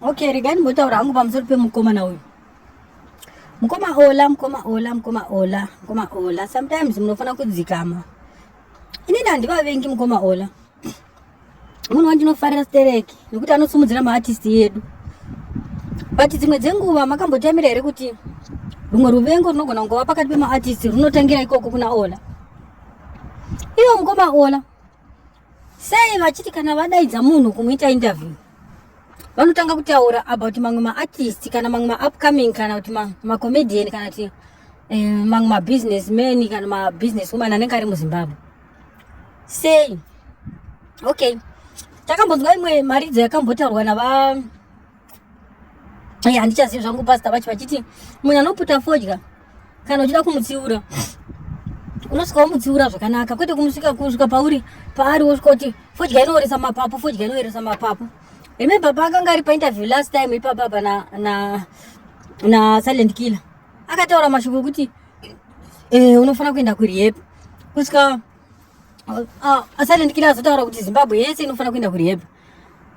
Okay, regai ndimbotaura hangu pamusoro pemukomana uyu. Mukoma Ola, mukoma Ola, mukoma Ola, mukoma Ola. Sometimes munofanira kudzikama. Inini handivavengi mukoma Ola. Munhu wandinofarira stereki nekuti anosimudzira maartist yedu. But dzimwe dzenguva makambotamira here kuti rumwe ruvengo runogona kungova pakati pemaartist runotangira ikoko kuna Ola. Ivo mukoma Ola Sei vachiti kana vadaidza munhu kumuita interview vanotanga kutaura about mamwe maartist kana mamwe maupcoming kana kuti macomedian kana kuti eh, mamwe mabusiness man kana mabusiness woman anenge ari muzimbabwe sei okay takambonzwa imwe mharidzo yakambotaurwa nava Ai handichazivi zvangu pastor vacho vachiti munhu anoputa fodya kana uchida kumutsiura unosvika womutsiura zvakanaka kwete kumusvika kusvika pauri paari wosvika kuti fodya inooresa mapapu fodya inoeresa mapapu remember paakanga ari painterview last time ipapa apa na, na, na silent killer akataura mashoko okuti eh, unofanira kuenda kurihep kusvika uh, uh, silent killer azotaura kuti zimbabwe yese inofanira kuenda kurihep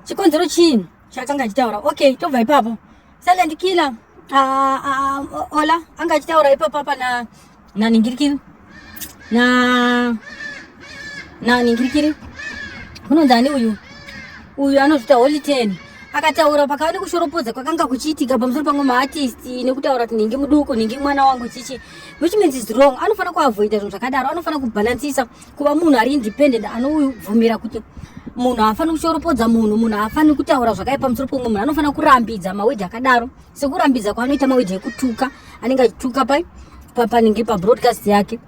chikonzero chii chaakanga achitaura okay tobva ipapo silent killer ah, ah, ah, ola anga achitaura ipapo apa na naningirikiri na naningirikiri kunonzi ani uyu uyu anozvita holy ten akataura pakava nekushoropodza kwakanga kuchiitika pamusoro pamwe maartist nekutaura kuti ndingi muduku ndingi mwana wangu chichi which means is wrong anofanira kuavoida zvinhu zvakadaro anofanira kubhalansisa kuva munhu ari independent anobvumira kuti munhu haafaniri kushoropodza munhu munhu haafaniri kutaura zvakaipa musoro pomwe munhu anofanira kurambidza mawedhi akadaro sekurambidza kwaanoita mawedhi ekutuka anenge achituka pai panenge pabroadcast yake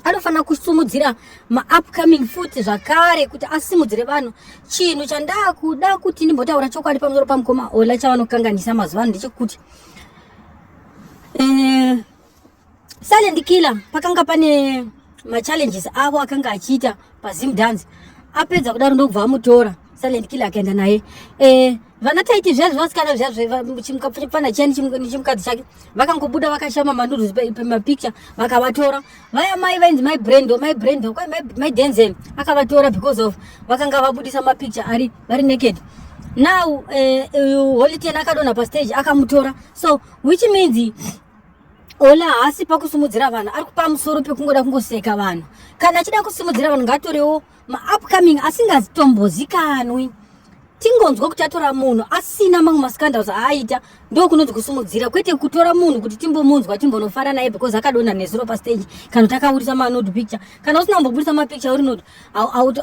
anofanira kusimudzira maupcoming futi zvakare kuti asimudzire vanhu chinhu chandakuda kuti ndimbotaura chokwadi pamusoro pamukoma ola chavanokanganisa mazuva ano ndechekuti eh, Silent Killer pakanga pane machallenges avo akanga achiita pazim dance apedza kudaro ndokubva amutora Silent Killer akaenda naye eh, vana taiti zviya zvevasikana zviya zvechimukapfana chiya nechimukadzi chake vakangobuda vakashama manudus pemapicture vakavatora vaya mai vainzi mai brendo mai brendo kwai mai denzel akavatora because of vakanga vabudisa mapicture ari vari naked now eh, eh, holy ten akadonha pastage akamutora so which means Ola haasi pakusimudzira vanhu ari pamusoro pekungoda kungoseka vanhu kana achida kusimudzira vanhu ngaatorewo maupcoming asingazitombozikanwi tingonzwa kuti atora munhu asina mamwe mascandals aaita ndokunonzi kusimudzira kwete kutora munhu kuti timbomunzwa timbonofara naye because akadonha nezuro pastage kana kuti akaburitsa manod picture kana usina kumboburitsa mapicture urinod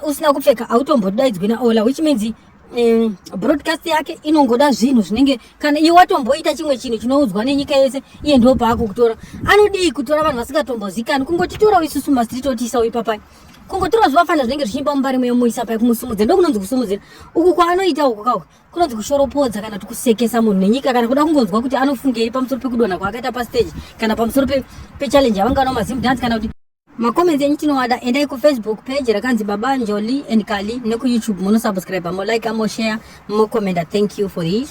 usina kupfeka autombodaidzwi naola which means um, broadcast yake inongoda zvinhu zvinenge kana iye watomboita chimwe chinhu chinoudzwa nenyika yese iye ndo paako kutora anodii kutora vanhu vasingatombozikani kungotitorao isusu mastreet otiisao ipapai kungotora zvivafana zvinenge zvichiimba mumba rimwe yomuisa pai kumusumudzira ndokunonzi kusumudzira uku kwaanoita uku kauku kunonzi kushoropodza kana tikusekesa munhu nenyika kana kuda kungonzwa kuti anofungei pamusoro pekudonha kwaakaita pasteji kana pamusoro pechallenge yavanga nao mazimdance kana kuti macomments enyu tinowada endai kufacebook page rakanzi baba njoli and kali nekuyoutube munosubscribe molaika moshare mocommenta thank you for this